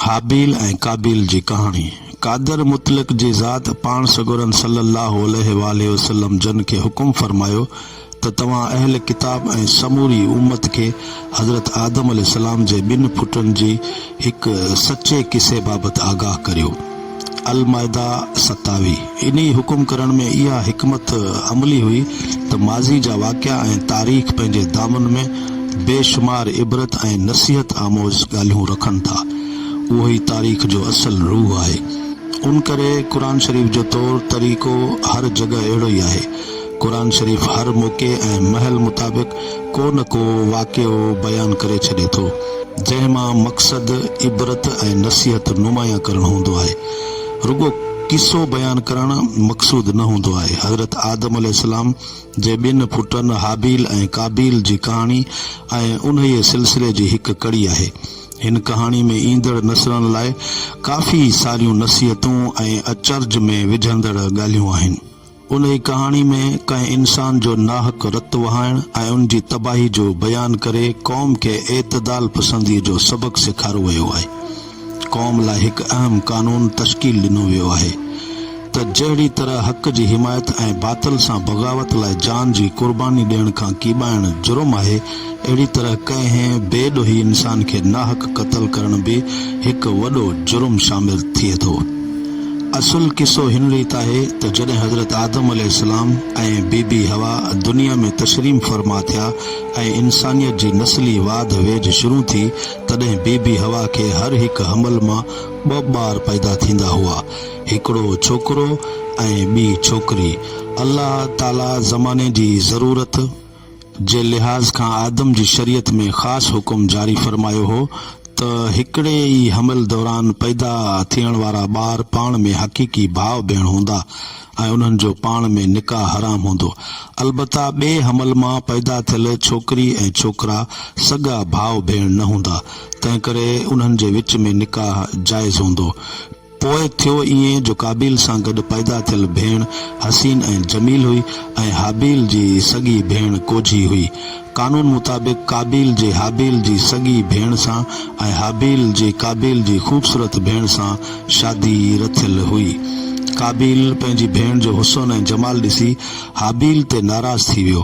هابيل ۽ قابيل جي ڪهاڻي، قادر مطلق جي ذات پاڻ سڳورن صلّي اللّٰه عليه واٰله وسلّم جن کي حڪم فرمايو ته توهان اهل ڪتاب ۽ سموري امّت کي حضرت آدم عليه السّلام جي ٻن پٽن جي هڪ سچي قصي بابت آگاهه ڪريو. المائده ستاوي انهي حڪم ڪرڻ ۾ اها حڪمت عملي هئي ته ماضي جا واقعا ۽ تاريخ پنهنجي دامن ۾ بي شمار عبرت ۽ نصيحت آموز ڳالهيون رکن ٿا اهو ئي تاريخ جو اصل روح آهي ان ڪري قرآن شريف جو طور طريقو هر جڳهه اهڙو ئي آهي قرآن شريف هر موقعي ۽ مهل مطابق ڪو نه ڪو واقعو بيان ڪري ڇڏي ٿو، جنهن مان مقصد عبرت ۽ نصيحت نمايان ڪرڻ هوندو آهي. رڳو قصو بيان ڪرڻ مقصود نه هوندو آهي. حضرت آدم عليه السلام جي ٻن پٽن هابيل ۽ قابيل جي ڪهاڻي ۽ انهيء سلسلي جي هڪ ڪڙي آهي. هن ڪهاڻي ۾ ايندڙ نسلن لاء ڪافي ساريون نصيحتون ۽ اچرج ۾ وجهندڙ ڳالهيون آهن. انهي ڪهاڻي ۾ ڪنهن انسان جو ناحق رت وهائڻ ۽ ان جي تباهي جو بيان ڪري قوم کي اعتدال پسندي جو سبق سيکارو ويو آهي. قوم لاء هڪ اهم قانون تشڪيل ڏنو ويو آهي ته جهڙي طرح حق جي حمايت ۽ باطل سان بغاوت لاء جان جي قرباني ڏيڻ کان ڪيٻائڻ جرم آهي، اهڙي طرح ڪنهن بي ڏوهي انسان کي ناحق قتل ڪرڻ به هڪ وڏو جرم شامل ٿئي ٿو. اصل قصو هن ريت آهي ته جڏهن حضرت آدم عليه السلام ۽ بي بي حوا دنيا ۾ تشريم فرما ٿيا ۽ انسانيت جي نسلي واڌ ويجهه شروع ٿي تڏهن بي بي حوا کي هر هڪ حمل مان ٻه ٻار پيدا ٿيندا هئا هڪڙو ڇوڪرو ۽ ٻي ڇوڪري الله تعالي زماني جي ضرورت جي لحاظ کان آدم جي شريعت ۾ خاص حڪم جاري فرمايو هو ته هڪڙي ئي حمل دوران پيدا ٿيڻ وارا ٻار پاڻ ۾ حقيقي ڀاء ڀيڻ هوندا ۽ انهن جو پاڻ ۾ نڪاح حرام هوندو البته ٻئي حمل مان پيدا ٿيل ڇوڪري ۽ ڇوڪرا سڳا ڀاء ڀيڻ نه هوندا تنهنڪري انهن جي وچ ۾ نڪاح جائز هوندو. پوء ٿيو ائين جو قابيل سان گڏ پيدا ٿيل ڀيڻ حسين ۽ جميل هئي ۽ هابيل جي سڳي ڀيڻ ڪوجهي هئي. قانون مطابق قابيل جي هابيل جي سڳي ڀيڻ سان ۽ هابيل جي قابيل جي خوبصورت ڀيڻ سان شادي رٿيل هئي. قابيل پنهنجي ڀيڻ جو حسن ۽ جمال ڏسي هابيل تي ناراض ٿي ويو.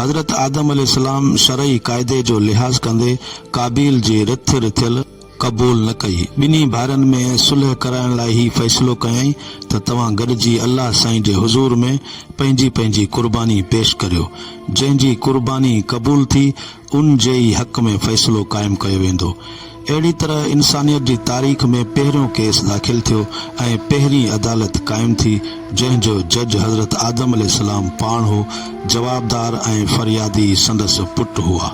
حضرت آدم عليه السلام شرعي قاعدي جو لحاظ ڪندي قابيل جي رٿ رٿيل قبول نه ڪئي، ٻنهي ڀائرن ۾ صلح ڪرائڻ لاء هي فيصلو ڪيائين ته توهان گڏجي الله سائين جي حضور ۾ پنهنجي پنهنجي قرباني پيش ڪريو، جنهن جي قرباني قبول ٿي ان جي ئي حق ۾ فيصلو قائم ڪيو ويندو. اهڙي طرح انسانيت جي تاريخ ۾ پهريون ڪيس داخل ٿيو ۽ پهرين عدالت قائم ٿي، جنهن جو جج حضرت آدم عليه السلام پاڻ هو، جوابدار ۽ فريادي سندس پٽ هئا.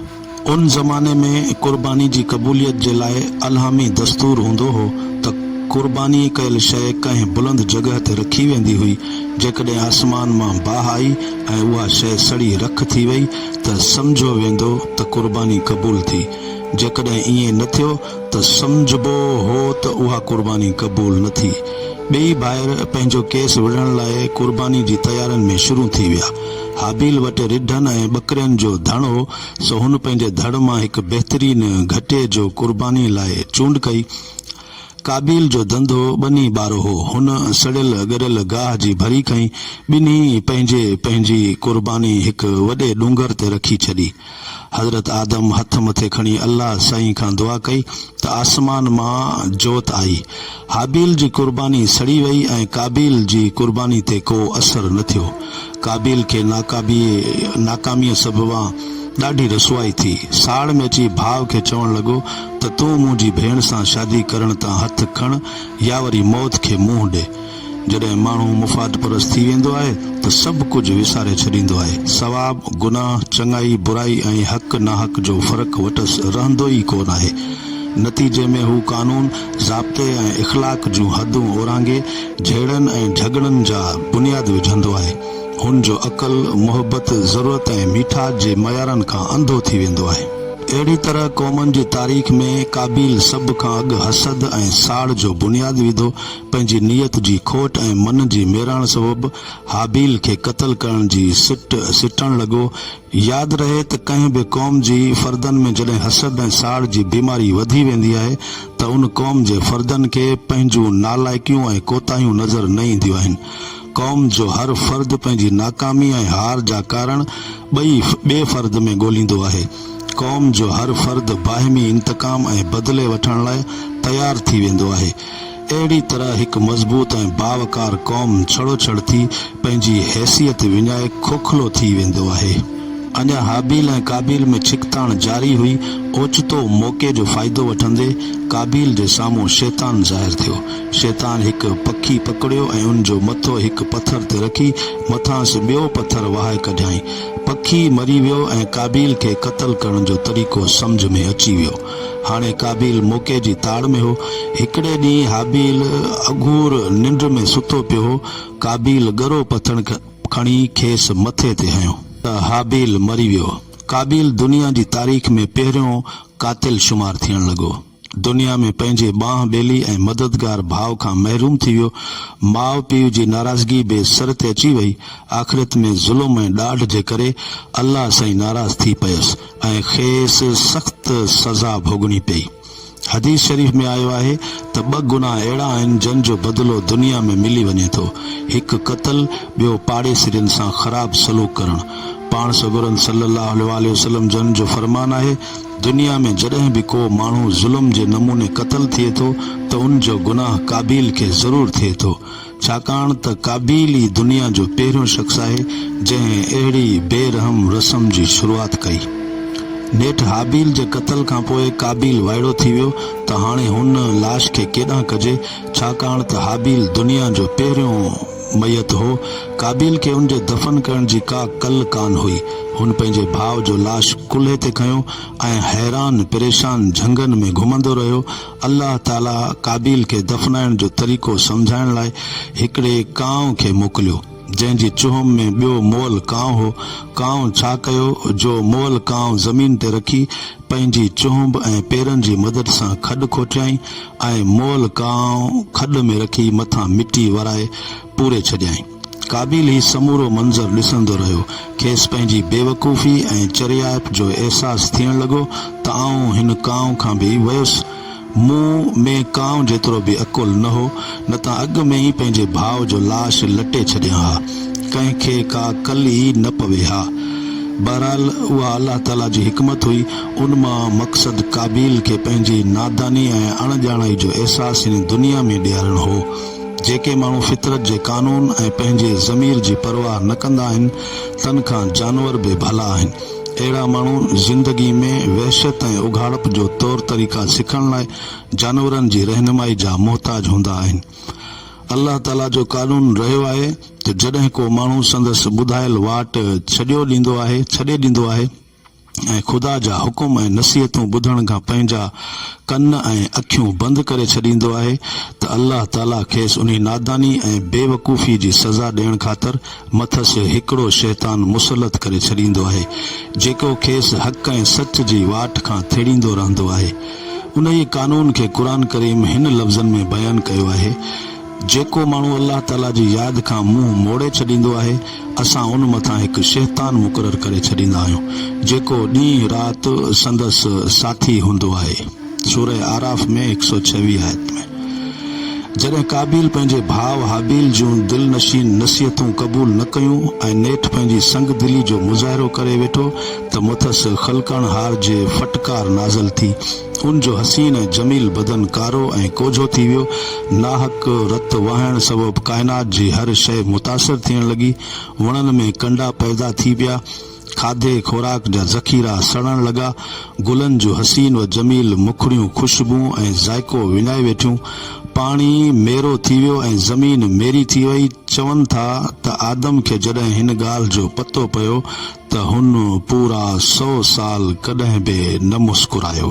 ان زماني ۾ قرباني جي قبوليت جي لاء الهامي دستور هوندو هو ته قرباني ڪيل شيء ڪنهن بلند جڳهه تي رکي ويندي هئي، جيڪڏهن آسمان مان باهه آئي ۽ اها شيء سڙي رک ٿي وئي ته سمجهيو ويندو ته قرباني قبول ٿي. جيڪڏهن ائين نه ٿيو ته سمجهبو هو ته اها قرباني قبول نه ٿي. ٻئي ڀائر پنهنجو ڪيس وڙهڻ لاء قرباني جي تيارين ۾ شروع ٿي ويا. هابيل وٽ رڍن ۽ ٻڪرين جو ڌڻ هو، سو هن پنهنجي ڌڙ مان هڪ بهترين گهٽي جو قرباني لاء چونڊ ڪئي. قابيل جو ڌنڌو ٻني ٻارو هو. هن سڙيل ڳريل گاهه جي ڀري کنئي، ٻنهي پنهنجي پنهنجي قرباني هڪ وڏي ڏونگر تي رکي ڇڏي. حضرت آدم هٿ مٿي کڻي الله سائين کان دعا ڪئي ته آسمان مان جوت آئي. هابيل جي قرباني سڙي وئي ۽ قابيل جي قرباني تي ڪو اثر نه ٿيو. قابيل کي ناقابي ناڪاميء سببان ڏاڍي رسوائي ٿي. ساڙ ۾ اچي ڀاء کي چوڻ لڳو ته تون منهنجي ڀيڻ سان شادي ڪرڻ تان هٿ کڻ يا وري موت کي منهن ڏي. جڏهن ماڻهو مفاد پرست ٿي ويندو آهي ته سڀ ڪجهه وساري ڇڏيندو آهي. ثواب، گناهه، چڱائي، برائي ۽ حق، ناحق جو فرق وٽس رهندو ئي ڪو ناهي. نتيجي ۾ هو قانون، ضابطي ۽ اخلاق جون حدون اورانگهي جهيڙن ۽ جهڳڙن جا بنياد وجهندو آهي. هن جو عقل، محبت، ضرورت ۽ ميٺاس جي معيارن کان انڌو ٿي ويندو آهي. اهڙي طرح قومن جي تاريخ ۾ قابيل سڀ کان اڳ حسد ۽ ساڙ جو بنياد وڌو. پنهنجي نيت جي کوٽ ۽ من جي ميراڻ سبب هابيل کي قتل ڪرڻ جي سٽ سٽڻ لڳو. ياد رهي ته ڪنهن به قوم جي فردن ۾ جڏهن حسد ۽ ساڙ جي بيماري وڌي ويندي آهي ته ان قوم جي فردن کي پنهنجون نالائقيون ۽ ڪوتاهيون نظر نه اينديون آهن. قوم جو هر فرد پنهنجي ناڪامي ۽ هار جا ڪارڻ ٻئي ٻئي فرد ۾ ڳوليندو آهي. قوم جو هر فرد باهمي انتقام ۽ بدلي وٺڻ لاء تيار ٿي ويندو آهي. اهڙي طرح هڪ مضبوط ۽ باوقار قوم ڇڙو ڇڙ ٿي پنهنجي حيثيت وڃائي کوکلو ٿي ويندو آهي. اڃا هابيل ۽ قابيل ۾ ڇڪتاڻ جاري هئي، اوچتو موقعي جو فائدو وٺندي قابيل جي سامهون شيطان ظاهر ٿيو. شيطان هڪ پکي پڪڙيو ۽ ان جو مٿو هڪ پٿر تي رکي مٿانئس ٻيو پٿر وهائي ڪڍيائين. پکي مري ويو ۽ قابيل کي قتل ڪرڻ جو طريقو سمجهه ۾ اچي ويو. هاڻي قابيل موقعي جي تاڙ ۾ هو. هڪڙي ڏينهن هابيل اگهور ننڊ ۾ ستو پيو هو. قابيل ڳرو پٿڻ کڻي کيس مٿي تي هنيو. ته هابيل مري ويو. قابيل دنيا جي تاريخ ۾ پهريون قاتل شمار ٿيڻ لڳو. دنيا ۾ پنهنجي ٻانهن ٻيلي ۽ مددگار ڀاء کان محروم ٿي ويو. ماء پيء جي ناراضگي به سر تي اچي وئي. آخرت ۾ ظلم ۽ ڏاڍ جي ڪري الله سائين ناراض ٿي پيس. ۽ کيس سخت سزا ڀوڳڻي پئي. حديث شريف ۾ آيو آهي ته ٻه گناهه اهڙا آهن جن جو بدلو دنيا ۾ ملي وڃي ٿو، هڪ قتل، ٻيو پاڙيسرين سان خراب سلوڪ ڪرڻ. پاڻ سڳورن صلّي اللّٰه عليه واٰله وسلّم جن جو فرمان آهي، دنيا ۾ جڏهن به ڪو ماڻهو ظلم جي نموني قتل ٿئي ٿو ته ان جو گناهه قابيل کي ضرور ٿئي ٿو. ڇاڪاڻ ته قابيل ئي دنيا جو پهريون شخص آهي، جنهن اهڙي بي رحم رسم جي شروعات ڪئي. نيٺ هابيل جي قتل کان پوء قابيل وائڙو ٿي ويو ته هاڻي هن لاش کي ڪيڏانهن ڪجي، ڇاڪاڻ ته هابيل دنيا جو پهريون ميت هو. قابيل کي ان جي دفن ڪرڻ جي ڪا ڪل ڪانه هئي. هن پنهنجي ڀاء جو لاش ڪلهي تي کنيو ۽ حيران پريشان جهنگن ۾ گهمندو رهيو. الله تعاليٰ قابيل کي دفنائڻ جو طريقو سمجهائڻ لاء هڪڙي ڪانء کي موڪليو، جنهن جي چهوم ۾ ٻيو مئل ڪانء هو. ڪانء ڇا ڪيو جو مئل ڪانء زمين تي رکي پنهنجي چهنب ۽ پيرن جي مدد سان کڏ کوٽيائين ۽ مئل ڪانء کڏ ۾ رکي مٿان مٽي ورائي پوري ڇڏيائين. قابيل هي سمورو منظر ڏسندو رهيو. کيس پنهنجي بيوقوفي ۽ چريائپ جو احساس ٿيڻ لڳو ته آئون هن ڪانء کان به ويس. مون ۾ ڪانء جيترو به عقل نه هو، نه ته اڳ ۾ ئي پنهنجي ڀاء جو لاش لٽي ڇڏيان ها. ڪنهن کي ڪا ڪل ئي نه پوي ها. بهرحال اها الله تعاليٰ جي حڪمت هئي. ان مان مقصد قابيل کي پنهنجي ناداني ۽ اڻڄاڻائي جو احساس هن دنيا ۾ ڏيارڻ هو. جيڪي ماڻهو فطرت جي قانون ۽ پنهنجي ضمير جي پرواهه نه ڪندا آهن، تن کان جانور به ڀلا آهن. اهڙا ماڻهو زندگي ۾ وحشت ۽ اگهاڙپ جو طور طريقا سکڻ لاء جانورن جي رهنمائي جا محتاج هوندا آهن. الله تعاليٰ جو قانون رهيو آهي ته جڏهن ڪو ماڻهو سندس ٻڌايل واٽ ڇڏيو ڏيندو آهي، ڇڏي ڏيندو آهي، ۽ خدا جا حڪم ۽ نصيحتون ٻڌڻ کان پنهنجا ڪن ۽ اکيون بند ڪري ڇڏيندو آهي ته الله تعاليٰ کيس انهي ناداني ۽ بيوقوفي جي سزا ڏيڻ خاطر مٿس هڪڙو شيطان مسلط ڪري ڇڏيندو آهي جيڪو کيس حق ۽ سچ جي واٽ کان ٿيڙيندو رهندو آهي انهيء قانون کي قرآن ڪريم هن لفظن ۾ بيان ڪيو آهي. جيڪو ماڻهو الله تعاليٰ جي ياد کان منهن موڙي ڇڏيندو آهي، اسان ان مٿان هڪ شيطان مقرر ڪري ڇڏيندا آهيون، جيڪو ڏينهن رات سندس ساٿي هوندو آهي، سوره اعراف ۾ هڪ سؤ ڇويهه آيت ۾. جڏهن قابيل پنهنجي ڀاء هابيل جون دل نشين نصيحتون قبول نه ڪيون ۽ نيٺ پنهنجي سنگ دلي جو مظاهرو ڪري ويٺو ته مٿس خلقڻهار جي ڦٽڪار نازل ٿي ان جو حسين ۽ جميل بدن ڪارو ۽ ڪوجهو ٿي ويو. ناحق رت وهڻ سبب ڪائنات جي هر شيء متاثر ٿيڻ لڳي. وڻن ۾ ڪنڊا پيدا ٿي پيا. کاڌي خوراڪ جا ذخيرا سڙڻ لڳا. گلن جون حسين و جميل مکڙيون خوشبون ۽ ذائقو وڃائي ويٺيون. پاڻي ميرو ٿي ويو ۽ زمين ميري ٿي وئي. چون ٿا ته آدم کي جڏهن هن ڳالهه جو پتو پيو ته هن پورا سؤ سال ڪڏهن به نه مسڪرايو.